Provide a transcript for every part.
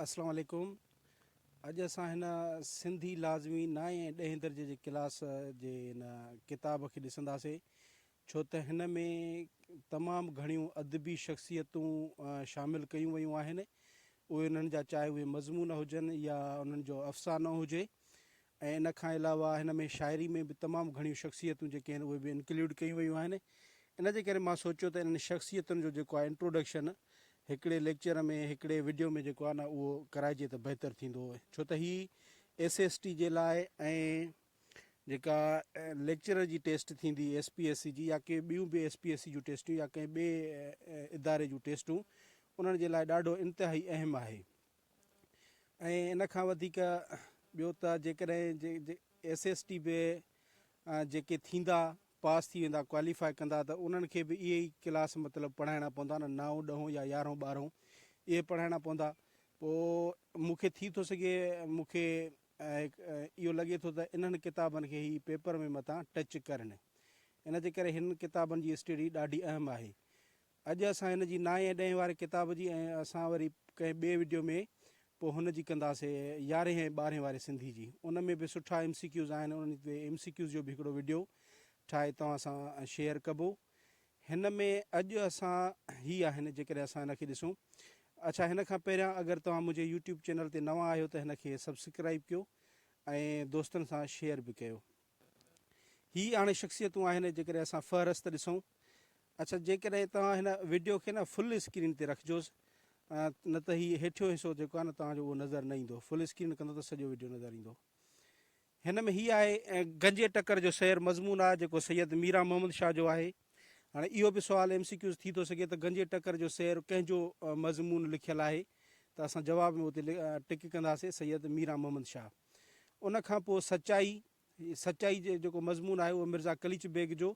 اسلام عليڪم اڄ اسان هن سنڌي لازمي نائين ۽ ڏهين درجي جي ڪلاس جي هن ڪتاب کي ڏسنداسين ڇو ته هن ۾ تمام گهڻيون ادبي شخصيتون شامل ڪيون ويون آهن اهي انهن جا چاهي اهي مضمون هجن يا انهن جو افسانو هجي ۽ ان کان علاوه هن ۾ شاعري ۾ به تمام گهڻيون شخصيتون جيڪي آهن اهي به انڪلوڊ ڪيون ويون آهن ان جي ڪري مان سوچيو ته انهن شخصيتن جو جيڪو آهي انٽروڊڪشن هڪڙي ليڪچر ۾ هڪڙي وڊيو ۾ جيڪو آهي نه اهو ڪرائجي ته بهتر ٿيندو ڇو ته هي ايس ايس ٽي جي لاء ۽ جيڪا ليڪچرر جي ٽيسٽ ٿيندي ايس پي ايس سي جي يا ڪي ٻيون به ايس پي ايس سي جون ٽيسٽون يا ڪنهن ٻي اداري جون ٽيسٽون انهن جي لاء ڏاڍو انتهائي اهم آهي ۽ ان کان وڌيڪ ٻيو ته جيڪڏهن ايس ايس ٽي به جيڪي ٿيندا پاس ٿي ويندا ڪواليفائي ڪندا ته انهن کي به اهي ئي ڪلاس مطلب پڙهائڻا پوندا نه نائون ڏهون يا يارهون ٻارهون اهي پڙهائڻا پوندا پوء مونکي ٿي ٿو سگهي مونکي اهو لڳي ٿو ته انهن ڪتابن کي هي پيپر ۾ متان ٽچ ڪرن ان جي ڪري هن ڪتابن جي اسٽڊي ڏاڍي اهم آهي اڄ اسان هن جي نائين ۽ ڏهين واري ڪتاب جي ۽ اسان وري ڪنهن ٻئي وڊيو ۾ پوء هن جي ڪنداسي يارهين ۽ ٻارهين واري سنڌي جي ان ۾ به سٺا ايم سي ڪيوز آهن انهن تي ايم سي ڪيوز جو به هڪڙو وڊيو ٺاهي توهان سان شيئر ڪبو هن ۾ اڄ اسان هي آهن جيڪڏهن اسان هن کي ڏسون اڇا هن کان پهريان اگر توهان منهنجي يوٽيوب چينل تي نوان آهيو ته هن کي سبسڪرائب ڪيو ۽ دوستن سان شيئر به ڪيو هي اڻ شخصيتون آهن جيڪڏهن اسان فهرست ڏسون اڇا جيڪڏهن توهان هن وڊيو کي نه فل اسڪرين تي رکجوس نه ته هي هيٺيون حصو جيڪو آهي نه توهان جو اهو نظر نه ايندو فل اسڪرين ڪندو ته سڄو وڊيو نظر ايندو هن ۾ هي آهي گنجي ٽڪر جو سير مضمون آهي جيڪو سيد ميران محمد شاهه جو آهي هاڻي اهو به سوال ايم سي ڪيوز ٿي ٿو سگهي ته گنجي ٽڪر جو سير ڪنهن جو مضمون لکيل آهي ته اسان جواب ۾ اتي ٽڪ ڪنداسين سيد ميران محمد شاهه ان کان پوء سچائي سچائي جو جيڪو مضمون آهي اهو مرزا قليچ بيگ جو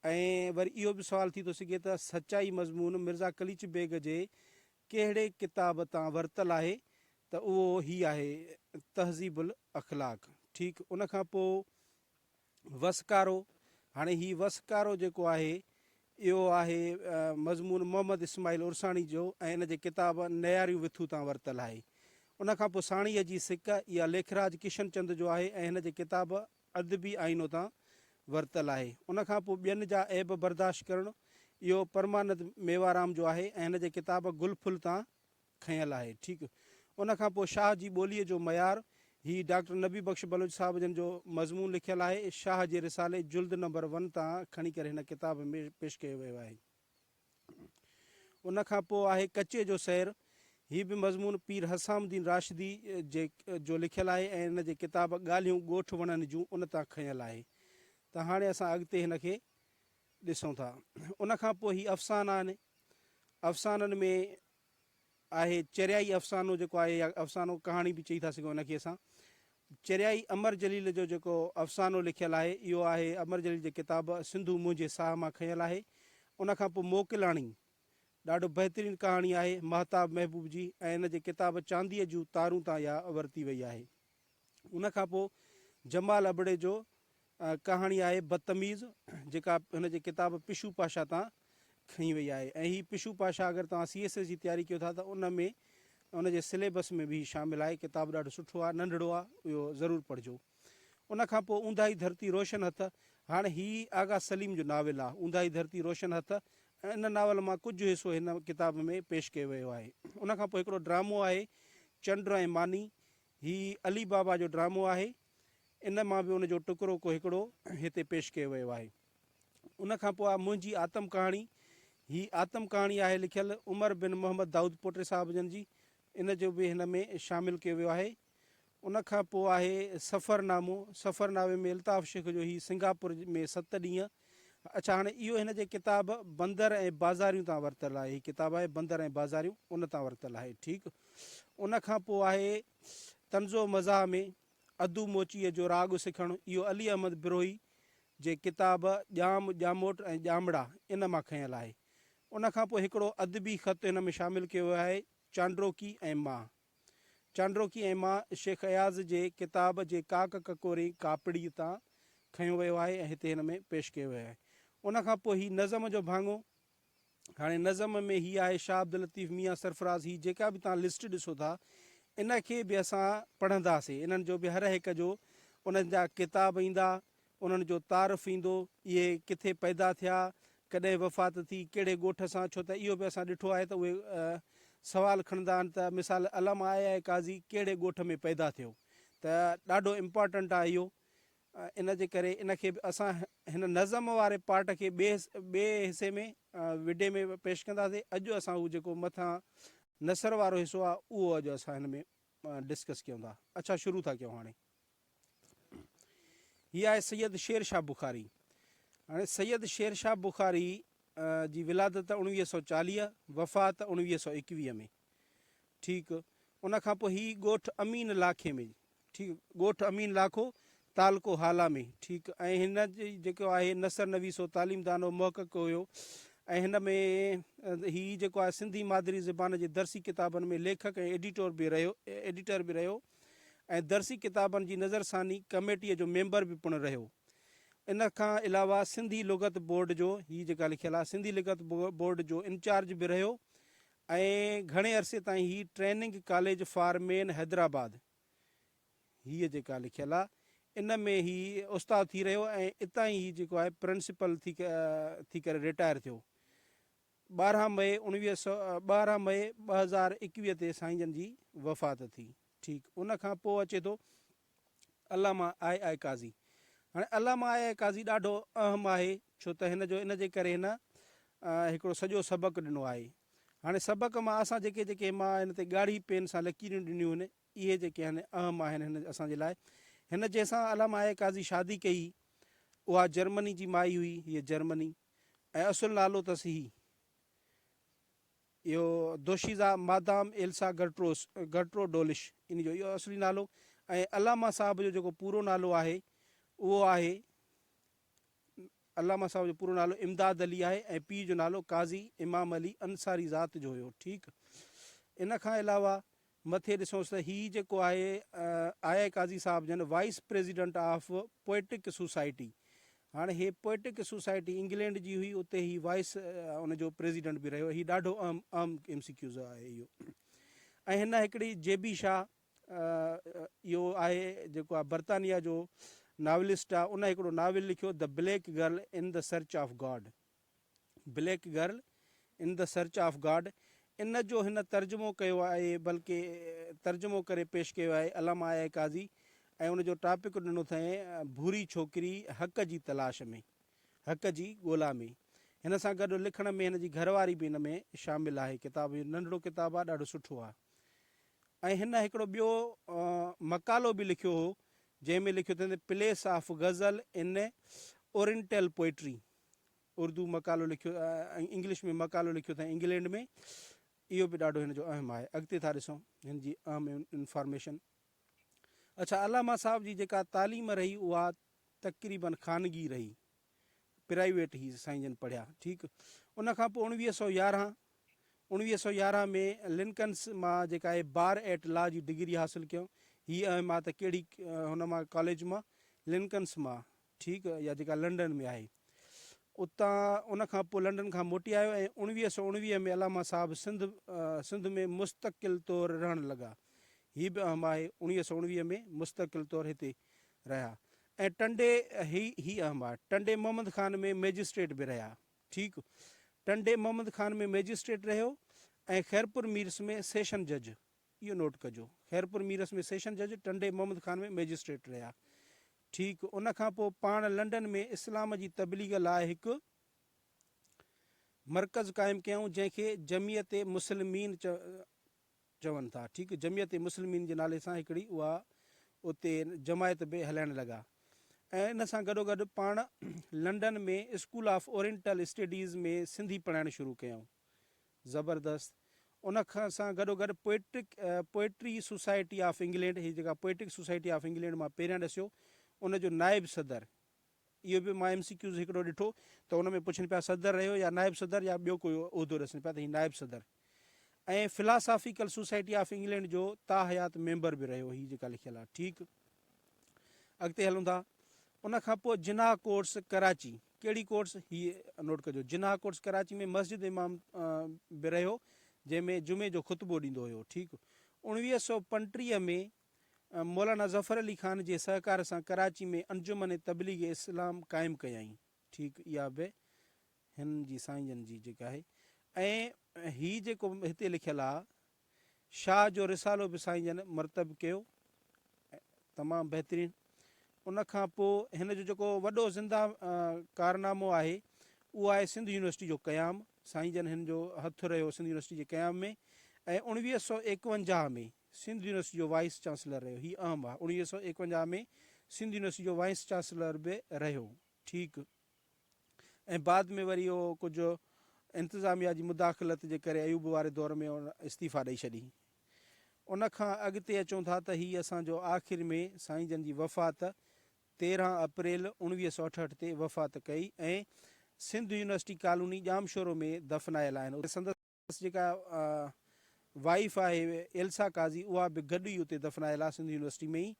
۽ وري اهو به سوال ٿي ٿو سگهي ته سچائي مضمون مرزا قليچ بيگ جي ڪهڙي ڪتاب تان ورتل آهي ته اهو هي آهي تهذيب الاخلاق ٺيڪ ان کان پوء وسڪارو، هاڻي هي وسڪارو جيڪو آهي اهو آهي مضمون محمد اسماعيل عرساڻي جو ۽ ان جي ڪتاب نياريون وٿو تان ورتل آهي. ان کان پوء ساڻيهه جي سڪ، اها ليکراج ڪشن چند جو آهي ۽ هن جي ڪتاب ادبي آئينو تان ورتل آهي. ان کان پوء ٻين جا عيب برداشت ڪرڻ، اهو پرمانند ميوارام جو آهي ۽ هن جي ڪتاب گل ڦل تان کنيل آهي ٺيڪ ان کان پوء شاهه جي ٻوليء جو معيار هي ڊاڪٽر نبي بخش بلوچ صاحب جن جو مضمون لکيل آهي شاهه جي رسالي جلد نمبر ون تان کڻي ڪري هن ڪتاب ۾ پيش ڪيو ويو آهي ان کان پوء آهي ڪچي جو سير هي به مضمون پير حسام الدين راشدي جي جو لکيل آهي ۽ ان جي ڪتاب ڳالهيون ڳوٺ وڻن جون ان تان کنيل آهي ته هاڻي اسان اڳتي هن کي ڏسون ٿا ان کان پوء هي افسانا آهن افسانن ۾ آهي چريائي افسانو جيڪو آهي يا افسانو ڪهاڻي به چئي ٿا سگهون ان کي اسان چريائي امر جليل جو جيڪو افسانو لکيل آهي اهو آهي امر جليل جي ڪتاب سنڌو منهنجي ساهه مان کنيل آهي ان کان پوء موڪلاڻي ڏاڍو بهترين ڪهاڻي آهي ماهتاب محبوب جي ۽ ان جي ڪتاب چانديء جون تارون تان اها ورتي وئي آهي. ان کان پوء جمال ابڙي جو ڪهاڻي آهي بدتميز جيڪا هن جي ڪتاب پشو پاشا تان کنئي وئي آهي ۽ هي پشو پاشا اگر توهان سي ايس ايس جي تياري ڪيو ٿا ته ان ۾ ان جي سليبس ۾ به هي شامل آهي ڪتاب ڏاڍو سٺو آهي ننڍڙو آهي اهو ضرور پڙهجو ان کان پوء اونداهي ڌرتي روشن هٿ هاڻي هي آغا سليم جو ناول آهي اونداهي ڌرتي روشن هٿ ان ناول مان ڪجهه حصو هن ڪتاب ۾ پيش ڪيو ويو آهي ان کان پوء هڪڙو ڊرامو آهي چنڊ ۽ ماني هي علي بابا جو ڊرامو آهي. ان مان به ان جو ٽڪرو ڪو هڪڙو هتي پيش ڪيو ويو آهي. ان کان پوء آ منهنجي آتم ڪهاڻي. هي آتم ڪهاڻي آهي لکيل عمر بن محمد دائود پوٽي صاحب جن جي. ان جو به هن ۾ شامل ڪيو ويو آهي. ان کان پوء آهي سفرنامو. سفرنامي ۾ الطاف شيخ جو هي سنگاپور ۾ ست ڏينهن. اڇا هاڻي اهو هن جي ڪتاب بندر ۽ بازاريون تان ورتل آهي هي ڪتاب آهي بندر ۽ بازاريون ان تان ورتل آهي ٺيڪ ان کان پوء آهي تنزو مزاح ۾ ادو موچيء جو راڳ سکڻ اهو علي احمد بروهي جي ڪتاب ڄام ڄاموٽ ۽ ڄامڙا ان مان کنيل آهي ان کان پوء هڪڙو ادبي خط هن ۾ شامل ڪيو ويو آهي چانڊروڪي ۽ مان چانڊروڪي ۽ مان شيخ اياز جي ڪتاب جي ڪاڪ ڪڪوري ڪاپڙي تان کنيو ويو آهي ۽ هتي هن ۾ پيش ڪيو ويو آهي. ان کان پوء هي نظم جو ڀاڱو. هاڻي نظم ۾ هي آهي شاهه عبداللطيف ميان سرفراز هي جيڪا به توهان لسٽ ڏسو ٿا ان کي به اسان پڙهنداسين انهن جو به هر هڪ جو انهن جا ڪتاب ايندا انهن جو تعارف ايندو، اهي ڪٿي پيدا ٿيا، ڪڏهن وفات ٿي، ڪهڙي ڳوٺ سان، ڇو ته اهو به اسان ڏٺو آهي ته اهي سوال کڻندا آهن ته مثال علم آء آء قاضي ڪهڙي ڳوٺ ۾ پيدا ٿيو ته ڏاڍو امپارٽنٽ آهي اهو ان جي ڪري ان کي به اسان هن نظم واري پارٽ کي ٻئي ٻئي حصي ۾ وڊي ۾ پيش ڪنداسين اڄ اسان اهو جيڪو مٿان نثر وارو حصو آهي اهو اڄ اسان هن ۾ ڊسڪس ڪيون ٿا اڇا شروع ٿا ڪيون هاڻي هي آهي سيد شير شاهه بخاري. هاڻي سيد شير شاهه بخاري جي ولادت اوڻويهه سؤ چاليهه، وفات اوڻويهه سؤ ايڪويهه ۾. ٺيڪ. ان کان پوء هي ڳوٺ امين لاکي ۾ ٺيڪ ڳوٺ امين لاکو، تعلقو هالا ۾. ٺيڪ ۽ هن جي جيڪو آهي نثر نويس هو، تعليم دانو محقق هيو ۽ هن ۾ هي جيڪو آهي سنڌي مادري زبان جي درسي ڪتابن ۾ ليکڪ ۽ ايڊيٽور به رهيو ايڊيٽر به رهيو. ۽ درسي ڪتابن جي نظرثاني ڪميٽيء جو ميمبر به پڻ رهيو. ان کان علاوه سنڌي لغت بورڊ جو، هي جيڪا لکيل آهي، سنڌي لغت بورڊ جو انچارج به رهيو ۽ گهڻي عرصي تائين هي training college for men Hyderabad, هيء جيڪا لکيل آهي، ان ۾ هي استاد ٿي رهيو ۽ اتان ئي هي جيڪو آهي پرنسپل ٿي ڪري رٽائر ٿيو. ٻارهن مئي اڻويهه سؤ ٻارهن مئي ٻه هزار ايڪويهه تي سائين جن جي وفات ٿي ٺيڪ ان کان پوء اچي ٿو علامه آء آء قاضي هاڻي علامه آء آء قاضي ڏاڍو اهم آهي ڇو ته هن جو ان جي ڪري هن هڪڙو سڄو سبق ڏنو آهي هاڻي سبق مان اسان جيڪي جيڪي مان هن تي ڳاڙهي پين سان لڪيريون ڏنيون آهن اهي جيڪي آهن اهم آهن هن اسان جي لاء هن جنهن سان علامه آء آء قاضي شادي ڪئي اها جرمني جي مائي هئي هيء جرمني ۽ اصل نالو اٿس هي اهو دوشيزا مادام ايلسا گرٽروس گرٽرو ڊولش ان جو اهو اصلي نالو ۽ علامه صاحب جو جيڪو پورو نالو آهي اهو آهي علامه صاحب جو پورو نالو امداد علي آهي ۽ پيء جو نالو قاضي امام علي انصاري ذات جو هيو ٺيڪ ان کان علاوه مٿي ڏسونس ته هي جيڪو آهي آء آء قاضي صاحب جن vice president of poetic society هاڻ هي پوئٽڪ سوسائٽي انگلينڊ جي هئي اتي هي وائيس ان جو پريزيڊنٽ به رهيو هي ڏاڍو اهم اهم ايم سي ڪيوز آهي اهو ۽ هن هڪڙي جي بي شاهه اهو آهي جيڪو آهي برطانيا جو ناولسٽ آهي ان هڪڙو ناول لکيو the black girl in the search of God black girl in the search of God ان جو هن ترجمو ڪيو آهي بلڪه ترجمو ڪري پيش ڪيو آهي علامه آء آء قاضي ۽ ان جو ٽاپڪ ڏنو اٿئين ڀوري ڇوڪري حق جي تلاش ۾ حق جي ڳولا ۾ هن سان گڏ لکڻ ۾ هن جي گهر واري به ان ۾ شامل آهي ڪتاب ننڍڙو ڪتاب آهي ڏاڍو سٺو آهي ۽ هن هڪڙو ٻيو مقالو به لکيو هو جنهن ۾ لکيو اٿئين place of ghazal in oriental poetry Urdu مقالو لکيو ۽ انگلش ۾ مقالو لکيو اٿائين انگلينڊ ۾ اهو به ڏاڍو هن جو اهم آهي اڳتي ٿا ڏسون هن جي اهم انفارميشن اڇا علامه صاحب جي جيڪا تعليم رهي اها تقريبن خانگي رهي پرائيويٽ هي سائين جن پڙهيا ٺيڪ ان کان پوء اڻويهه سو يارهن اڻويهه سو يارهن ۾ لنڪنس مان جيڪا آهي بار ايٽ لا جي ڊگري حاصل ڪيو هي اهم آ ته ڪهڙي هن مان ڪاليج مان لنڪنس مان ٺيڪ يا جيڪا لنڊن ۾ آهي. اتان ان کان پوء لنڊن کان موٽي آيو ۽ اوڻويهه سؤ اوڻويهه ۾ علامه صاحب سنڌ سنڌ ۾ مستقل طور رهڻ لڳا. هي به اهم آهي اوڻويهه سؤ اوڻويهه ۾ مستقل طور هتي رهيا ۽ ٽنڊي هي هي اهم آهي ٽنڊي محمد خان ۾ مئجسٽريٽ به رهيا ٺيڪ ٽنڊي محمد خان ۾ مئجسٽريٽ رهيو ۽ خيرپور ميرس ۾ سيشن جج اهو نوٽ ڪجو خيرپور ميرس ۾ سيشن جج ٽنڊي محمد خان ۾ مئجسٽريٽ رهيا. ٺيڪ ان کان پوء پاڻ لنڊن ۾ اسلام جي تبليغ لاء هڪ مرڪز قائم ڪيائون جنهن کي جمعيت مسلمين چون ٿا ٺيڪ جمعيت مسلمين جي نالي سان هڪڙي اها اتي جماعت به هلائڻ لڳا ۽ ان سان گڏوگڏ پاڻ London ۾ school of oriental studies ۾ Sindhi پڙهائڻ شروع ڪيائون. زبردست. ان سان گڏوگڏ poetic poetry society of England هي جيڪا پوئٽڪ سوسائٽي آف انگلينڊ مان پهريان ڏسيو ان جو نائب صدر اهو به مان ايم سي ڪيوز هڪڙو ڏٺو ته ان ۾ پڇن پيا صدر رهيو يا نائب صدر يا ٻيو ڪوئي عهدو ڏسن پيا ته هي نائب صدر ۽ فلاسافيڪل سوسائٽي آف انگلينڊ جو تاحيات ميمبر به رهيو هي جيڪا لکيل آهي ٺيڪ. اڳتي هلون ٿا ان کان پوء جناح ڪورٽس ڪراچي ڪهڙي ڪورٽس هي نوٽ ڪجو جناح ڪورٽس ڪراچي ۾ مسجد امام به رهيو جنهن ۾ جمعي جو خطبو ڏيندو هيو ٺيڪ اوڻويهه سؤ پنٽيهه ۾ مولانا ظفر علي خان جي سهڪار سان ڪراچي ۾ انجمن تبليغ اسلام قائم ڪيائين ٺيڪ اها به هن جي سائين جن جي جيڪا آهي ۽ هي جيڪو هتي لکيل آهي شاهه جو رسالو به سائين جن مرتب ڪيو ۽ تمام بهترين ان کان پوء هن جو جيڪو وڏو زنده ڪارنامو آهي اهو آهي سنڌ يونيورسٽي جو قيام سائين جن هن جو هٿ رهيو سنڌ يونيورسٽي جي قيام ۾ ۽ اوڻويهه سؤ ايڪونجاهه ۾ سنڌ يونيورسٽي جو وائيس چانسلر رهيو هي اهم آهي اوڻويهه سؤ ايڪونجاهه ۾ سنڌ يونيورسٽي جو وائيس چانسلر به رهيو ٺيڪ ۽ بعد ۾ وري اهو ڪجهه انتظاميا جي مداخلت جي ڪري ايوب واري دور ۾ ان استعيفا ڏئي ڇڏي. ان کان اڳتي اچون ٿا ته هي اسان جو آخر ۾ سائين جن جي وفات تيرهن اپريل اوڻويهه سؤ اٺهٺ تي وفات ڪئي ۽ سنڌ يونيورسٽي ڪالوني ڄامشورو ۾ دفنايل آهن اتي سندس سندس جيڪا وائيف آهي ايلسا قاضي اها به گڏ ئي اتي دفنايل آهي سنڌ يونيورسٽي ۾ ئي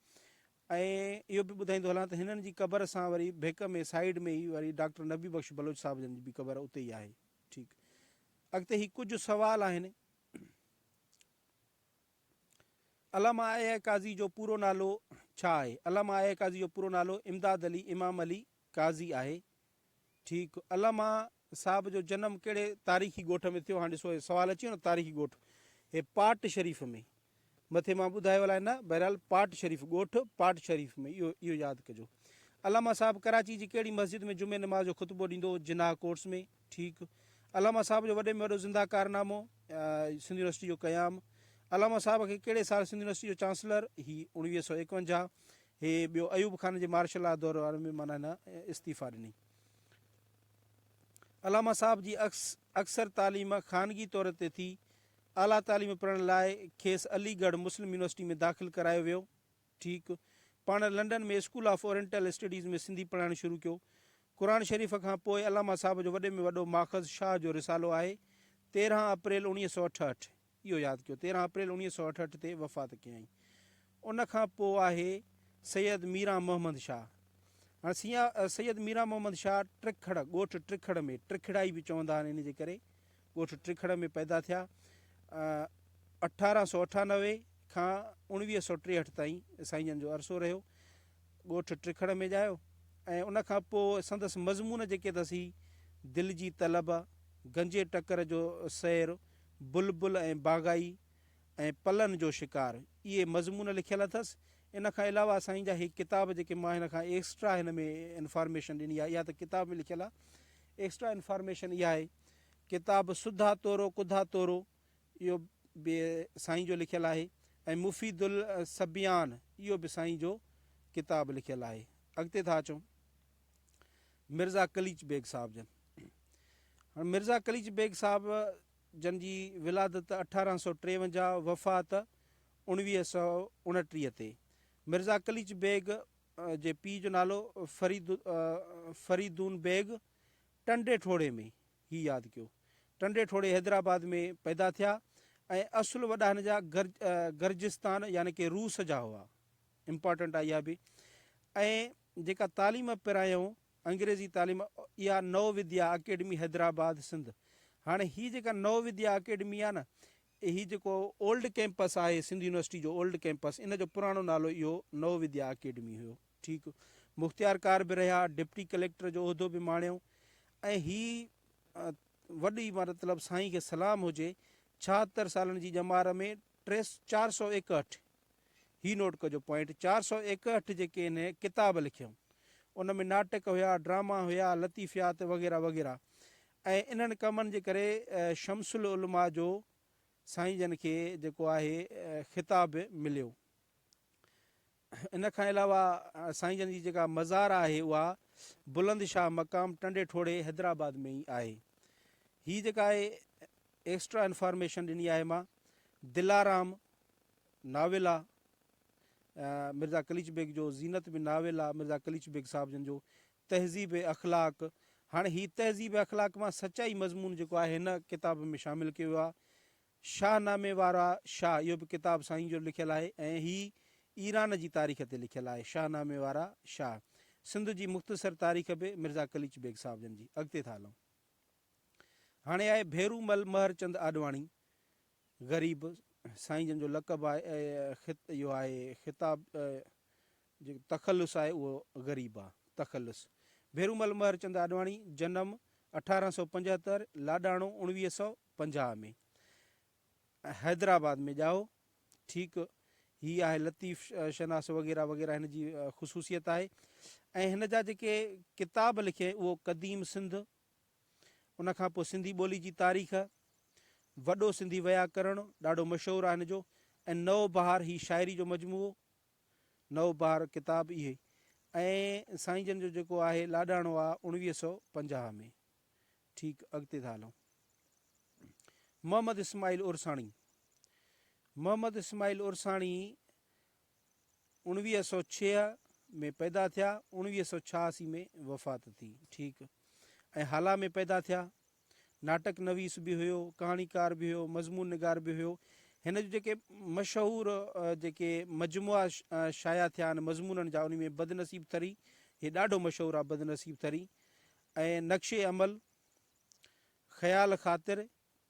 ۽ اهو به ٻڌائيندو هلان ته هنن جي قبر سان وري ڀيڪ ۾ سائيڊ ۾ ئي وري ڊاڪٽر نبي بخش بلوچ صاحب جن جي به قبر اتي ئي آهي ٺيڪ اڳتي هي ڪجهه سوال آهن علامه آء آء قاضي جو پورو نالو ڇا آهي علامه آء آء قاضي جو پورو نالو امداد علي امام علي قاضي آهي ٺيڪ علامه صاحب جو جنم ڪهڙي تاريخي ڳوٺ ۾ ٿيو؟ هاڻ ڏسو هي سوال اچي ويو نه تاريخي ڳوٺ هي پاٽ شريف ۾ مٿي مان ٻڌايو الاء نه بهرحال پاٽ شريف ڳوٺ پاٽ شريف ۾ اهو اهو ياد ڪجو علامه صاحب ڪراچي جي ڪهڙي مسجد ۾ جمعي نماز جو خطبو ڏيندو هو جناح ڪورٽس ۾ ٺيڪ علامه صاحب جو وڏي ۾ وڏو زنده ڪارنامو سنڌ يونيورسٽي جو قيام علامه صاحب کي ڪهڙي سال سنڌ يونيورسٽي جو چانسلر هي اوڻويهه سو ايڪونجاهه هي ٻيو ايوب خان جي مارشل لا دور واري ۾ معنيٰ هن استعيفا ڏني علامه صاحب جي اڪثر تعليم خانگي طور تي ٿي. اعليٰ تعليم پڙهڻ لاء کيس علي ڳڙهه مسلم يونيورسٽي ۾ داخل ڪرايو ويو. ٺيڪ پاڻ London ۾ school of oriental studies ۾ Sindhi پڙهائڻ شروع ڪيو. قرآن شريف کان پوء علامه صاحب جو وڏي ۾ وڏو ماخذ شاهه جو رسالو آهي، تيرهن اپريل اوڻيهه سؤ اٺهٺ. اهو ياد ڪيو تيرهن اپريل اوڻيهه سؤ اٺهٺ تي وفات ڪيائين ان کان پوء آهي سيد ميران محمد شاهه هاڻ سيا سيد ميران محمد شاهه ٽرکڙ ڳوٺ ٽرکڙ ۾ ٽرکڙائي به چوندا آهن ان جي ڪري ڳوٺ ٽرکڙ ۾ پيدا ٿيا اٺارهن سؤ اٺانوي کان اوڻويهه سؤ ٽيهٺ تائين سائين جن جو عرصو رهيو ڳوٺ ٽرکڙ ۾ ڄايو ۽ ان کان پوء سندس مضمون جيڪي اٿس هي دل جي طلب گنجي ٽڪر جو سير بلبل ۽ باغائي ۽ پلن جو شڪار اهي مضمون لکيل اٿس ان کان علاوه سائين جا هي ڪتاب جيڪي مان هن کان ايڪسٽرا هن ۾ انفارميشن ڏني آهي اها ته ڪتاب ۾ لکيل آهي ايڪسٽرا انفارميشن اها آهي ڪتاب سڌا تورو ڪڌا تورو اهو به سائين جو لکيل آهي ۽ مفيد الصبيان اهو به سائين جو ڪتاب لکيل آهي اڳتي ٿا اچون مرزا قليچ بيگ صاحب جن. هاڻ مرزا قليچ بيگ صاحب جن جي ولادت اٺارهن سؤ ٽيونجاهه وفات اوڻويهه سؤ اڻٽيهه تي. مرزا قليچ بيگ جي پيء جو نالو فريد فريدون بيگ ٽنڊي ٺوڙهي ۾ هي ياد ڪيو. ٽنڊي ٺوڙهي حيدرآباد ۾ پيدا ٿيا ۽ اصل وڏا هن جا گرجستان يعني ڪي روس جا هئا. امپارٽنٽ آهي اها به ۽ جيڪا تعليم پرايائون انگريزي تعليم اها نو وديا اڪيڊمي حيدرآباد سنڌ هاڻي هي جيڪا نو وديا اڪيڊمي آهي نه هي جيڪو اولڊ ڪيمپس آهي سنڌ يونيورسٽي جو اولڊ ڪيمپس ان جو پراڻو نالو اهو نو وديا اڪيڊمي هيو ٺيڪ مختيار ڪار به رهيا ڊپٽي ڪليڪٽر جو عهدو به ماڻيو ۽ هي وڏي مطلب سائين کي سلام هجي ڇاهتر سالن جي ڄمار ۾ ٽي چار سو ايڪهٺ هي نوٽ ڪجو پوائنٽ چار سؤ ايڪهٺ جيڪي هن ڪتاب لکيائون ان ۾ ناٽڪ هيا ڊراما هيا لطيفيات وغيره وغيره ۽ انهن ڪمن جي ڪري شمس العلماء جو سائين جن کي جيڪو آهي خطاب مليو ان کان علاوه سائين جن جي جيڪا مزار آهي اها بلند شاهه مقام ٽنڊي ٺوڙي حيدرآباد ۾ ئي آهي هي جيڪا آهي ايڪسٽرا انفارميشن ڏني آهي مان دلارام ناول آ مرزا قليچ بيگ جو زينت به ناول آ مرزا قليچ بيگ صاحب جن جو تهذيب اخلاق هاڻي هي تهذيب اخلاق مان سچائي مضمون جيڪو آهي هن ڪتاب ۾ شامل ڪيو ويو آ شاهه نامي وارا شاهه اهو به ڪتاب سائين جو لکيل آهي ۽ هي ايران جي تاريخ تي لکيل آهي شاهه نامي وارا شاهه سنڌ جي مختصر تاريخ به مرزا قليچ بيگ صاحب جن جي اڳتي ٿا هلون. هاڻي آهي ڀيرومل مهرچند آڏواڻي، غريب سائين جن جو لقب آهي اهو آهي خطاب جيڪو تخلص آهي اهو غريب آ، تخلص، ڀيرومل مهرچند آڏواڻي، جنم اٺارهن سؤ پنجهتر، لاڏاڻو اڻويهه سؤ پنجاهه ۾، حيدرآباد ۾ ڄائو. ٺيڪ هي آهي لطيف شناس وغيره وغيره هن جي خصوصيت آهي ۽ هن جا جيڪي ڪتاب لکي اهو قديم سنڌ ان کان پوء سنڌي ٻولي جي تاريخ وڏو سنڌي ويا ڪرڻ ڏاڍو مشهور آهي هن جو ۽ نو بهار هي شاعري جو مجموعو نو بهار ڪتاب اهي ۽ سائين جن جو جيڪو آهي لاڏاڻو آهي اوڻويهه سؤ پنجاهه ۾ ٺيڪ اڳتي ٿا هلون. محمد اسماعيل عرساڻي، محمد اسماعيل عرساڻي اوڻويهه سؤ ڇهه ۾ پيدا ٿيا اوڻويهه سؤ ڇهاسي ۾ وفات ٿي ٺيڪ ۽ هالا ۾ پيدا ٿيا ناٽڪ نويس به هيو ڪهاڻيڪار به هيو مضمون نگار به هيو هن جو جيڪي مشهور جيڪي مجموعا شايع ٿيا آهن مضمونن جا ان ۾ بدنصيب ٿري هي ڏاڍو مشهور آهي بدنصيب ٿري ۽ نقش عمل خيال خاطر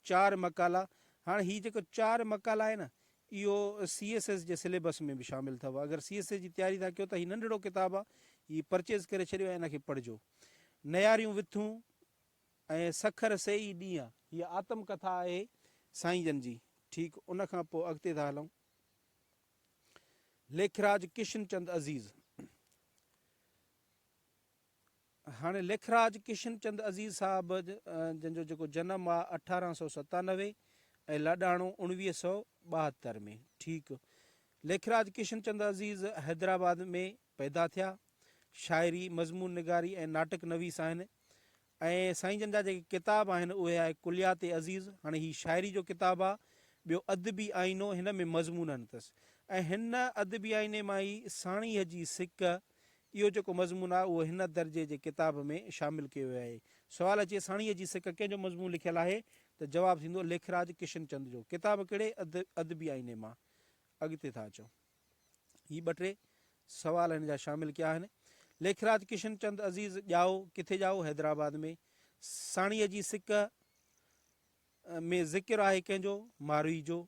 چار مقالا هاڻ هي جيڪو چار مقالا آهي نه اهو سي ايس ايس جي سليبس ۾ به شامل اٿو اگر سي ايس ايس جي تياري ٿا ڪيو ته هي ننڍڙو ڪتاب آهي هي پرچيز ڪري ڇڏيو ۽ ان کي پڙهجو نياريون وٿون ۽ سکر سي ئي ڏينهن هي آتم ڪٿا آهي سائين جن جي ٺيڪ ان کان پوء اڳتي ٿا هلون ليکراج ڪشن چند عزيز هاڻي ليکراج ڪشن چند عزيز صاحب جن جو جيڪو جنم آ اٺارهن سؤ ستانوي ۽ لاڏاڻو اوڻويهه سؤ ٻاهتر ۾ ٺيڪ ليکراج ڪشن چند عزيز حيدرآباد ۾ پيدا ٿيا شاعري مضمون نگاري ۽ ناٽڪ نويس آهن ۽ سائين جن جا جيڪي ڪتاب آهن اهي آهي ڪليات عزيز هاڻي هي شاعري جو ڪتاب آ ٻيو ادبي آئينو هن ۾ مضمون آهن اٿس ۽ هن ادبي آئيني مان ئي ساڻيهه جي سڪ اهو جيڪو مضمون آهي اهو هن درجي جي ڪتاب ۾ شامل ڪيو ويو آهي. سوال اچي ساڻيهه جي سڪ ڪنهن جو مضمون لکيل آهي ته جواب ٿيندو ليکراج ڪشن چند جو. ڪتاب ڪهڙي ادبي آئيني مان اڳتي ٿا اچو؟ هي ٻه ٽي سوال هن جا شامل ڪيا آهن. ليکراج ڪشن چند عزيز ڄائو ڪٿي ڄائو حيدرآباد ۾ ساڻيهه جي سڪ ۾ ذڪر آهي ڪنهن جو ماروئي جو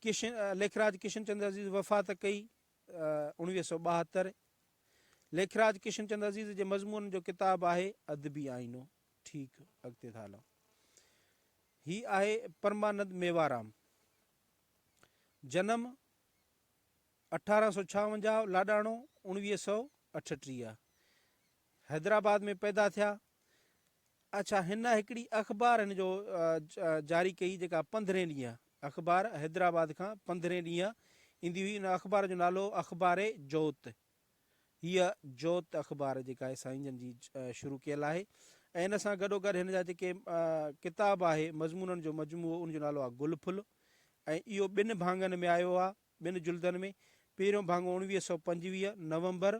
ڪشن ليکراج ڪشن چند عزيز وفات ڪئي اڻويهه سؤ ٻاهتر، ليکراج ڪشن چند عزيز جي مضمونن جو ڪتاب آهي ادبي آئينو. ٺيڪ، اڳتي ٿا هلون. هي آهي پرمانند ميوارام. جنم اٺارهن سؤ ڇاونجاهه، لاڏاڻو اڻويهه سؤ اٺٽيهه. حيدرآباد ۾ پيدا ٿيا. اڇا هن هڪڙي اخبار هن جو جاري ڪئي جيڪا پندرهين ڏينهن اخبار حيدرآباد کان پندرهين ڏينهن ايندي هئي ان اخبار جو نالو هو اخبار جوت هيء جوت اخبار جيڪا آهي سائين جن جي شروع ڪيل آهي ۽ ان سان گڏو گڏ هن جا جيڪي ڪتاب آهي مضمونن جو مجموعو ان جو نالو آهي گل ڦل ۽ اهو ٻن ڀاڱن ۾ آيو آهي ٻن جلدن ۾، پهريون ڀاڱو اڻويهه سؤ پنجويهه، نومبر،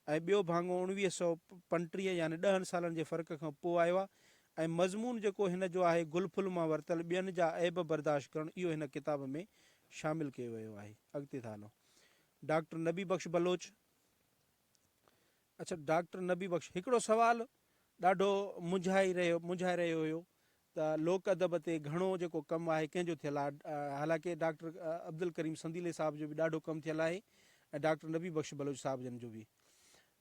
۽ ٻيو ڀاڱو اڻويهه سؤ پنٽيهه يعني ڏهن سالن جي فرق کان پوء آيو آهي ۽ مضمون جيڪو هن جو آهي گل ڦل مان ورتل ٻين جا عيب برداشت ڪرڻ اهو هن ڪتاب ۾ شامل ڪيو ويو آهي. اڳتي ٿا هلون. ڊاڪٽر نبي بخش بلوچ. اڇا ڊاڪٽر نبي بخش هڪڙو سوال ڏاڍو منجهائي رهيو منجهائي رهيو هيو ته لوڪ ادب تي گهڻو جيڪو ڪم آهي ڪنهن جو ٿيل آهي حالانڪه ڊاڪٽر عبدالڪريم سنديلي صاحب جو به ڏاڍو ڪم ٿيل آهي ۽ ڊاڪٽر نبي بخش بلوچ صاحب جن جو به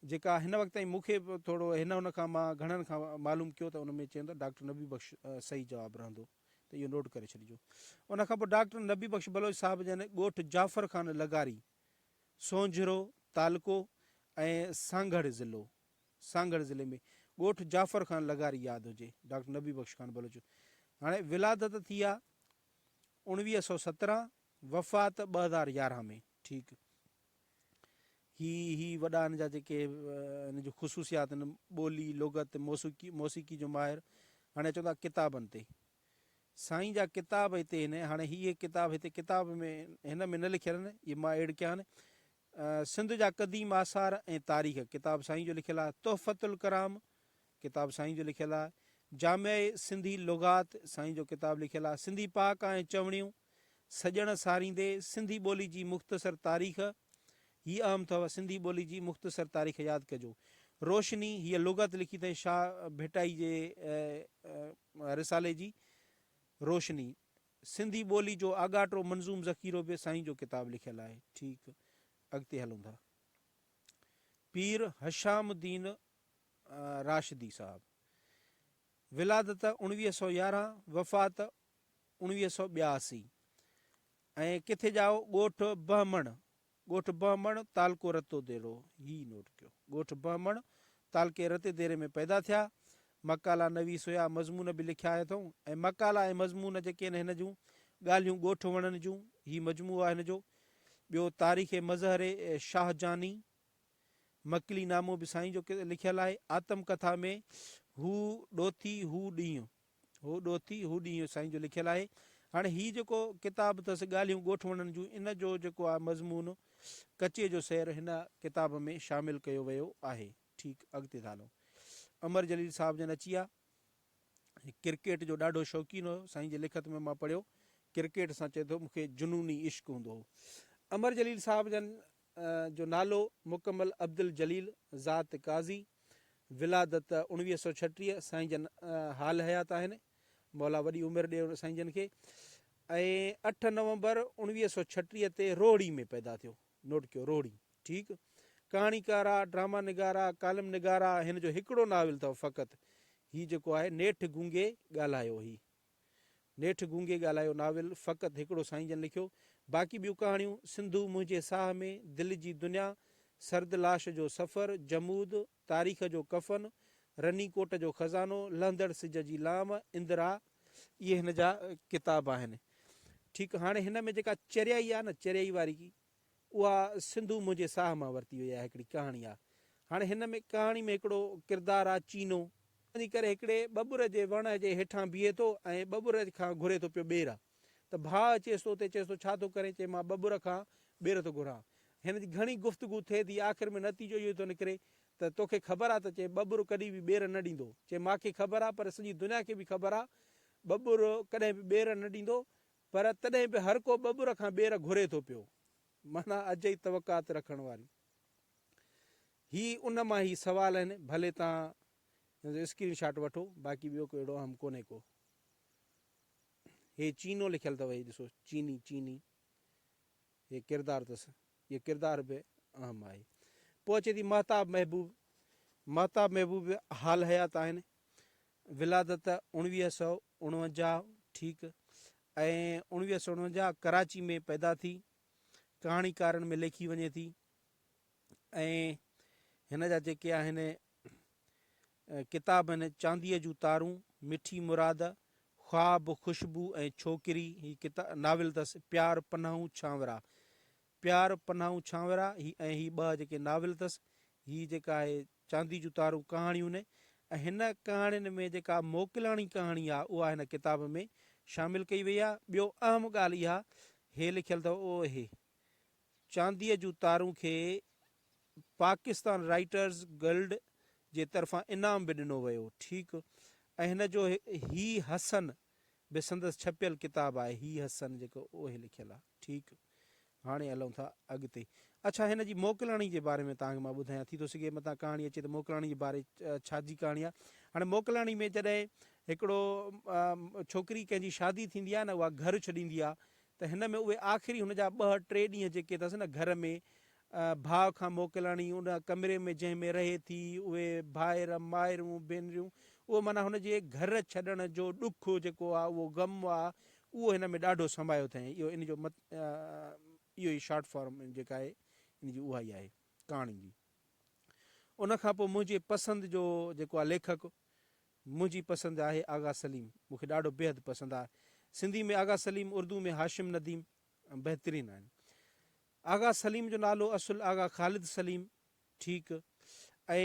جيڪا هن وقت تائين مونکي ٿورو هن ان کان مان گهڻن کان معلوم ڪيو ته ان ۾ چيو ته ڊاڪٽر نبي بخش صحيح جواب رهندو ته اهو نوٽ ڪري ڇڏجو ان کان پوء ڊاڪٽر نبي بخش بلوچ صاحب جن ڳوٺ جعفر خان لغاري سونجهرو تعلقو ۽ سانگهڙ ضلعو، سانگهڙ ضلعي ۾ ڳوٺ جعفر خان لغاري ياد هجي، ڊاڪٽر نبي بخش خان بلوچ هاڻي ولادت ٿي آ اوڻويهه سؤ سترهن وفات ٻه هزار يارهن ۾ ٺيڪ هي هي وڏا هن جا جيڪي هن جون خصوصيات آهن ٻولي لغت موسيقي موسيقي جو ماهر هاڻي چوندا ڪتابن تي سائين جا ڪتاب هتي هن هاڻي هي هي ڪتاب هتي ڪتاب ۾ هن ۾ نه لکيل آهن اهي مان ايڊ ڪيا آهن سنڌ جا قديم آثار ۽ تاريخ ڪتاب سائين جو لکيل آهي تحفت الڪرام ڪتاب سائين جو لکيل آهي جامع سنڌي لغات سائين جو ڪتاب لکيل آهي سنڌي پاڪ ۽ چوڻيون سڄڻ ساريندي سنڌي ٻولي جي مختصر تاريخ هي اهم اٿو سنڌي ٻولي جي مختصر تاريخ ياد ڪجو روشني هي لغت لکي اٿائين شاهه ڀٽائي جي رسالي جي روشني، سنڌي ٻولي جو آڳاٽو منظوم ذخيرو به سائين جو ڪتاب لکيل آهي. ٺيڪ، اڳتي هلون ٿا. پير هشام الدين راشدي صاحب، ولادت اوڻويهه سؤ يارهن، وفات اوڻويهه سؤ ٻياسي ۽ ڪٿي ڄائو ڳوٺ بهمڻ ڳوٺ بهمڻ، تعلقو رتوديرو، هي نوٽ ڪيو. ڳوٺ بهمڻ، تعلقي رتيديري ۾ پيدا ٿيا. مقالا نويس هيا، مضمون به لکيا هيا اٿئون ۽ مقالا ۽ مضمون جيڪي آهن هن جون، ڳالهيون ڳوٺ وڻن جون، هي مجموعو آهي هن جو. ٻيو تاريخ مظهر شاهه جاني، مڪلي نامو به سائين جو لکيل آهي. آتم ڪٿا ۾ هو ڏوٿي، هو ڏينهن. هو ڏوهتي، هو ڏينهن سائين جو لکيل آهي. هاڻي هي جيڪو ڪتاب اٿس ڳالهيون ڳوٺوڻن جون ان جو جيڪو آهي مضمون ڪچي جو سير هن ڪتاب ۾ شامل ڪيو ويو آهي. ٺيڪ اڳتي ٿا هلون. امر جليل صاحب جن اچي آ. هي ڪرڪيٽ جو ڏاڍو شوقين هو. سائين جي لکت ۾ مان پڙهيو ڪرڪيٽ سان چئي ٿو مون کي جنوني عشق هوندو هو. امر جليل صاحب جن جو نالو مڪمل عبدالجليل ذات قاضي، ولادت اڻويهه سؤ ڇٽيهه، سائين جن حال حيات آهن، مولا وڏي عمر ڏي سائين جن کي، ۽ اٺ نومبر اڻويهه سؤ ڇٽيهه تي روهڙي ۾ پيدا ٿيو، نوٽ ڪيو روهڙي، ٺيڪ، ڪهاڻيڪار آ، ڊراما نگار آ، ڪالم نگار آ، هن جو هڪڙو ناول اٿئو فقط، هي جيڪو آهي نيٺ گونگي ڳالهايو هي، نيٺ گونگي ڳالهايو ناول فقط هڪڙو سائين جن لکيو، باقي ٻيون ڪهاڻيون، سنڌو منهنجي ساهه ۾، دل جي دنيا، سرد لاش جو سفر، جمود، تاريخ جو ڪفن، رني ڪوٽ جو خزانو، لهندڙ سج جي لام، اندرا، اهي هن جا ڪتاب آهن. ٺيڪ هاڻي هن ۾ جيڪا چريائي آهي نه چريائي واري اها سنڌو منهنجي ساهه مان ورتي وئي آهي هڪڙي ڪهاڻي آ هاڻي هن ۾ ڪهاڻي ۾ هڪڙو ڪردار آ چينو. وڃي ڪري هڪڙي ٻٻر جي وڻ جي هيٺان بيهي ٿو ۽ ٻٻر کان گهري ٿو پيو ٻير ته ڀاء اچيس تو تي چيس ٿو ڇا ٿو ڪرين چي مان ٻٻر کان ٻير ٿو گهران هن جي گهڻي گفتگو ٿئي ٿي آخر ۾ نتيجو اهو ئي ٿو نڪري ته توکي خبر آ ته چي ٻٻر ڪڏهن به ٻير نه ڏيندو چي ماکي خبر آ پر سڄي دنيا کي به خبر آ ٻٻر ڪڏهن به ٻير نه ڏيندو پر تڏهن به هر ڪو ٻٻر کان ٻير گهري ٿو پيو. معنيٰ اجهي توقعات رکڻ واري. هي ان مان هي سوال آهن، ڀلي توهان هن جو اسڪرين شاٽ وٺو، باقي ٻيو ڪو اهڙو اهم ڪونهي ڪو. هي چينو لکيل اٿو، هي ڏسو، چيني، چيني. هي ڪردار اٿس. اهو ڪردار به اهم آهي. پوء اچي ٿي مهتاب محبوب. مهتاب محبوب به حال حيات آهن. ولادت اوڻويهه سؤ اڻونجاهه ٺيڪ ۽ اوڻويهه سؤ اڻونجاهه ڪراچي ۾ پيدا ٿي ڪهاڻيڪارن ۾ ليکي وڃي ٿي ۽ هن جا جيڪي آهن ڪتاب آهن چانديء جون تارون مٺي مراد خواب خوشبو ۽ ڇوڪري هي ڪتاب ناول اٿس پيار پناهون ڇانورا پيار پناهون ڇانورا هي ۽ هي ٻه جيڪي ناول اٿس هي جيڪا آهي چاندي جون تارون ڪهاڻيون ۽ هن ڪهاڻين ۾ جيڪا موڪلاڻي ڪهاڻي آ اها هن ڪتاب ۾ شامل ڪئي وئي آ. ٻيو اهم ڳالهه اها هي لکيل اٿو او اهي چانديء جون تارون کي پاڪستان رائيٽرز گلڊ جي طرفان انعام به ڏنو ويو ٺيڪ ۽ هن جو هي حسن به سندس ڇپيل ڪتاب آهي هي حسن جيڪو او اهي لکيل آ. ٺيڪ هاڻي هلون ٿا اڳتي. اڇا هن جي موڪلاڻي جي باري ۾ توهان کي مان ٻڌايان. ٿي ٿو سگهي متان ڪهاڻي اچي ته موڪلاڻي جي باري ڇا جي ڪهاڻي آهي. هاڻي موڪلاڻي ۾ جڏهن هڪڙو ڇوڪري ڪنهن جي شادي ٿيندي آهي نه اها گهر ڇڏيندي آهي ته هن ۾ اهي آخري هن جا ٻه ٽي ڏينهن جيڪي اٿس نه گهر ۾ ڀاء کان موڪلاڻي ان ڪمري ۾ جنهن ۾ رهي ٿي، اهي ڀائر، مائرون، ڀينريون، اهو معنيٰ هن جي گهر ڇڏڻ جو ڏک جيڪو آ، اهو غم آ، اهو هن ۾ ڏاڍو سمايو اٿئين. اهو ان جو مت اهو ئي شارٽ فارم جيڪا آهي، ان جي اها ئي آهي ڪهاڻي جي. ان کان پوء منهنجي پسند جو جيڪو آ ليکڪ، منهنجي پسند آهي آغا سليم. مون کي ڏاڍو بيحد پسند آ. سنڌي ۾ آغا سليم، اردو ۾ هاشم نديم بهترين آهن. آغا سليم جو نالو اصل آغا خالد سليم ٺيڪ ۽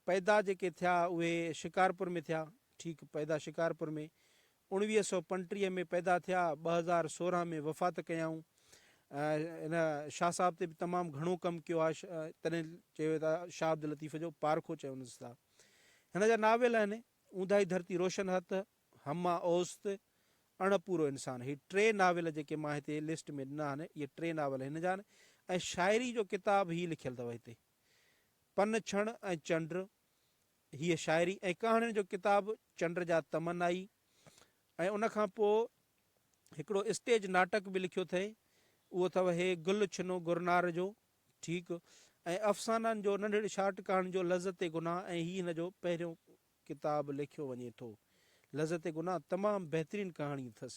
پيدا جيڪي ٿيا اهي شڪارپور ۾ ٿيا ٺيڪ پيدا شڪارپور ۾ اوڻويهه سؤ پنٽيهه ۾ پيدا ٿيا ٻه هزار سورهن ۾ وفات ڪيائون ان شاهه صاحب تي به تمام گهڻو ڪم ڪيو آهي تڏهن چيو ٿا شاهه عبداللطيف جو پارکو چونس ٿا هن جا ناول آهن اونداهي ڌرتي روشن هٿ همه اوست، اڻ پورو انسان، هي ٽي ناول جيڪي مان هتي لسٽ ۾ ڏنا آهن، اهي ٽي ناول هن جا آهن ۽ شاعري جو ڪتاب هي لکيل اٿو هتي. پن ڇڻ ۽ چنڊ، هيء شاعري ۽ ڪهاڻين جو ڪتاب چنڊ جا تمنا ئي ۽ ان کان پوء هڪڙو اسٽيج ناٽڪ به لکيو اٿئي، اهو اٿو هي گل ڇنو گرنار جو، ٺيڪ، ۽ افسانن جو ننڍڙي شارٽ ڪهاڻين جو لذت گناهه ۽ هي هن جو پهريون ڪتاب ليکيو وڃي ٿو. لذت گناھ تمام بهترين ڪهاڻي اٿس.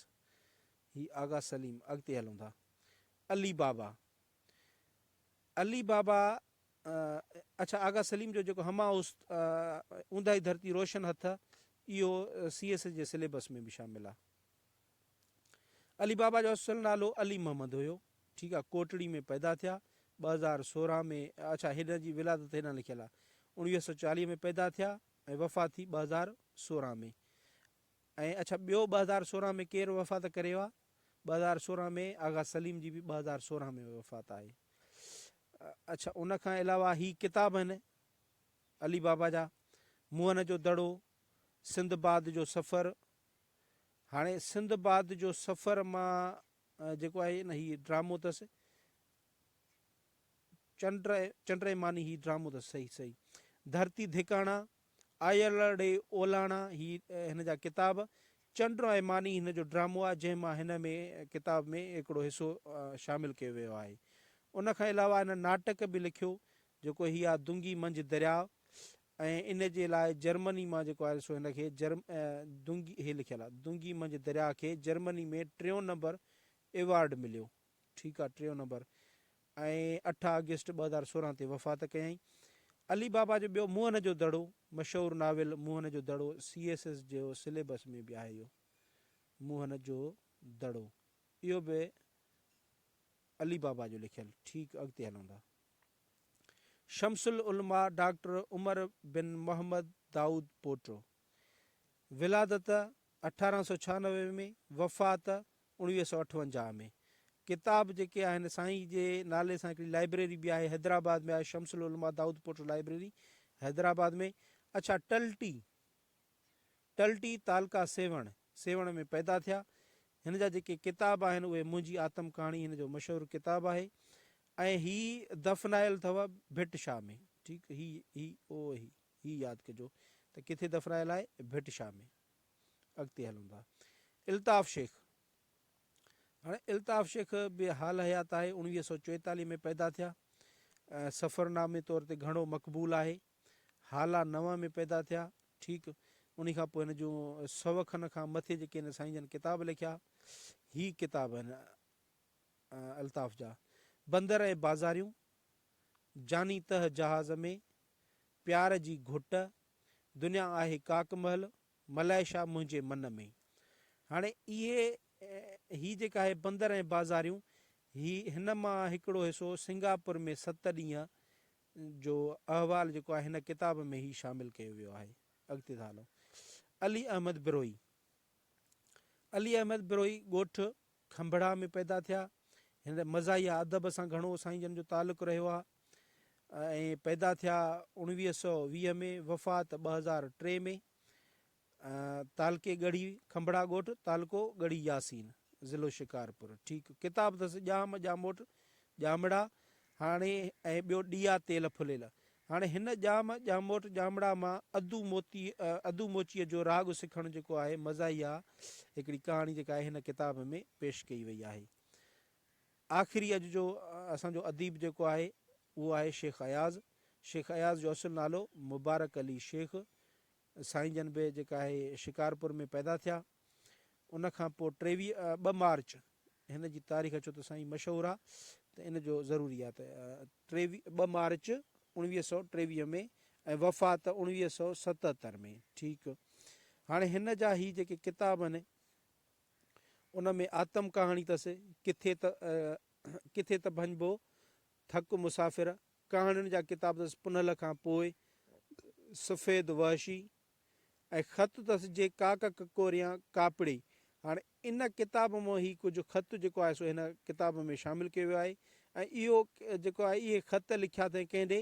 هي آغا سليم اڳتي هلون ٿا. علي بابا علي بابا اڇا آغا سليم جو جيڪو همه اوس اونداهي ڌرتي روشن هٿ اهو سي ايس جي سليبس ۾ به شامل آ. علي بابا جو اصل نالو علي محمد هيو ٺيڪ آ ڪوٽڙي ۾ پيدا ٿيا ٻه هزار سورهن ۾ اڇا هن جي ولادت هيڏانهن لکيل آ اوڻويهه سو چاليهه ۾ پيدا ٿيا ۽ وفات ٿي ٻه هزار سورهن ۾ ۽ اڇا ٻيو ٻه هزار سورهن ۾ ڪير وفات ڪري ويو آ ٻه هزار سورهن ۾ آغا سليم جي به ٻه هزار سورهن ۾ وفات آهي اڇا ان کان علاوه هي ڪتاب آهن علي بابا جا موهن جو دڙو سنڌ باد جو سفر هاڻي سنڌ باد جو سفر مان جيڪو آهي نه هي ڊرامو تس چنڊ چنڊ ماني هي ڊرامو تس صحيح صحيح ڌرتي ڌڪاڻا آيلڙي اولاڻا هي هن جا ڪتاب چنڊ ۽ ماني هن جو ڊرامو آهي جنهن مان هن ۾ ڪتاب ۾ هڪڙو حصو شامل ڪيو ويو آهي ان کان علاوه هن ناٽڪ به لکيو جيڪو هي آ دنگي منجھ درياء ۽ ان جي لاء جرمني مان جيڪو آيل سو هن کي جرم دونگي هي لکيل آ دونگي منجهه درياء کي جرمني ۾ ٽيون نمبر ايوارڊ مليو ٺيڪ آ ٽيون نمبر ۽ اٺ آگسٽ ٻه هزار سورهن تي وفات ڪيائين علي بابا جو ٻيو موهن جو دڙو مشهور novel Mohenjo Daro C S S جو سليبس ۾ به آهي اهو موهن جو دڙو اهو به علي بابا جو لکيل ٺيڪ اڳتي هلون ٿا شمس العلماء ڊاڪٽر عمر بن محمد دائود پوٽو، ولادت اٺارهن سؤ ڇهانوي ۾ وفات اڻويهه سؤ اٺونجاهه ۾ ڪتاب جيڪي آهن سائين جي نالي سان هڪڙي لائبريري به آهي حيدرآباد ۾ آهي شمس العلماء دائود پوٽو لائبريري حيدرآباد ۾ اڇا ٽلٽي ٽلٽي تعلقه سيوهڻ، سيوهڻ ۾ پيدا ٿيا. هن جا جيڪي ڪتاب آهن اهي منهنجي آتم ڪهاڻي هن جو مشهور ڪتاب آهي ۽ هي دفنايل اٿو ڀٽ شاهه ۾. ٺيڪ هي هي او هي هي ياد ڪجو ته ڪٿي دفنايل آهي ڀٽ شاهه ۾. اڳتي هلون ٿا الطاف شيخ هاڻي الطاف شيخ به حال حيات آهي اوڻويهه سؤ چوئيتاليهه ۾ پيدا ٿيا سفرنامي طور تي گهڻو مقبول آهي. هالا نوان ۾ پيدا ٿيا. ٺيڪ انهي کان پوء هن جون سو کن کان مٿي جيڪي هن سائين جن ڪتاب لکيا، هي ڪتاب هن الطاف جا، بندر ۽ بازاريون، جاني تهه جهاز ۾، پيار جي گهٽ، دنيا آهي ڪاڪ محل، ملائيشا منهنجي من ۾. هاڻي اهي هي جيڪا آهي بندر ۽ بازاريون، هي هن مان هڪڙو حصو سنگاپور ۾ ست ڏينهن جو احوال جيڪو آهي هن ڪتاب ۾ هي شامل ڪيو ويو آهي. اڳتي ٿا هلون. علي احمد بروهي، علي احمد بروهي ڳوٺ کنڀڙا ۾ پيدا ٿيا. هن مزاحيه ادب سان گهڻو سائين جن جو تعلق رهيو آهي ۽ پيدا ٿيا اوڻويهه سؤ ويهه ۾ وفات ٻه هزار ٽي ۾ تعلقي ڳڙهي کنڀڙا ڳوٺ، تعلقو ڳڙهي ياسين، ضلعو شڪارپور، ٺيڪ ڪتاب اٿس ڄام، ڄاموٽ، ڄامڙا، هاڻي ۽ ٻيو ڏيئا تيل ڦليل. هاڻي هن ڄام، ڄاموٽ، ڄامڙا مان ادو موتي، ادو موچيء جو راڳ سکڻ جيڪو آهي مزاحيه هڪڙي ڪهاڻي جيڪا آهي هن ڪتاب ۾ پيش ڪئي وئي آهي. آخري اڄ جو اسان جو اديب جيڪو آهي اهو آهي شيخ اياز. شيخ اياز جو اصل نالو مبارڪ علي شيخ. سائين جن به جيڪا آهي شڪارپور ۾ پيدا ٿيا ان کان پوء ٽيويهه ٻه مارچ هن جي تاريخ ڇو ته سائين مشهور آ ته ان جو ضروري آ ته ٽيويهه ٻه مارچ اوڻويهه سؤ ٽيويهه ۾ ۽ وفات اوڻويهه سؤ ستهتر ۾ ٺيڪ هاڻي هن جا هي جيڪي ڪتاب آهن ان ۾ آتم ڪهاڻي تس ڪٿي ته ڪٿي ته ڀڃبو ٿڪ مسافر ڪهاڻين جا ڪتاب اٿس پنهل کان پوء، سفيد وحشي ۽ خط اٿس جي ڪاڪ ڪڪوريان ڪاپڙي. هاڻ ان ڪتاب مان هي ڪجهه خط جيڪو آهي سو هن ڪتاب ۾ شامل ڪيو ويو آهي ۽ اهو جيڪو آهي اهي خط لکيا اٿئين ڪنهن ڏي؟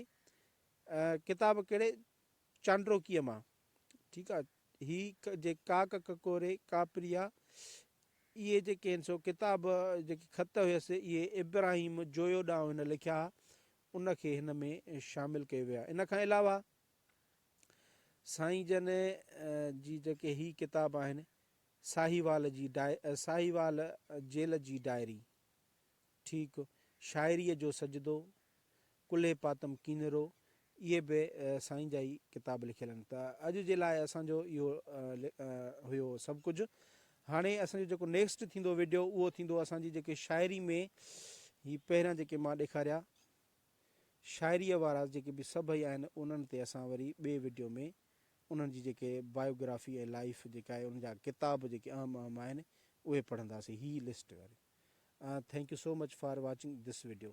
ڪتاب ڪهڙي؟ چانڊروڪيء مان. ٺيڪ آ هي جي ڪاڪ ڪڪوري ڪاپريا اهي جيڪي آهن سو ڪتاب جيڪي خط هيس اهي ابراهيم جويو ڏانهن هن لکيا ها ان کي هن ۾ شامل ڪيو ويا ان کان علاوه سائين جن جي جيڪي هي ڪتاب آهن ساهيوال جي ساهيوال جيل جي ڊائري ٺيڪ شاعريء جو سجدو، ڪلهي پاتم ڪينرو، اهي به سائين جا ئي ڪتاب لکيل آهن. ته اڄ جي لاء اسان جو اهو هيو سڀ ڪجهه. هاڻي اسان جو جيڪو نيڪسٽ ٿيندو وڊيو اهو ٿيندو اسان جي جيڪي شاعري ۾ هي پهريان جيڪي مان ڏيکاريا شاعريء وارا جيڪي به سڀئي آهن انهن تي اسان وري ٻئي وڊيو ۾ انهن جي جيڪي بايوگرافي ۽ لائيف جيڪا آهي ان جا ڪتاب جيڪي اهم اهم آهن اهي پڙهنداسين هي لسٽ وري ۽ thank you so much for watching this video.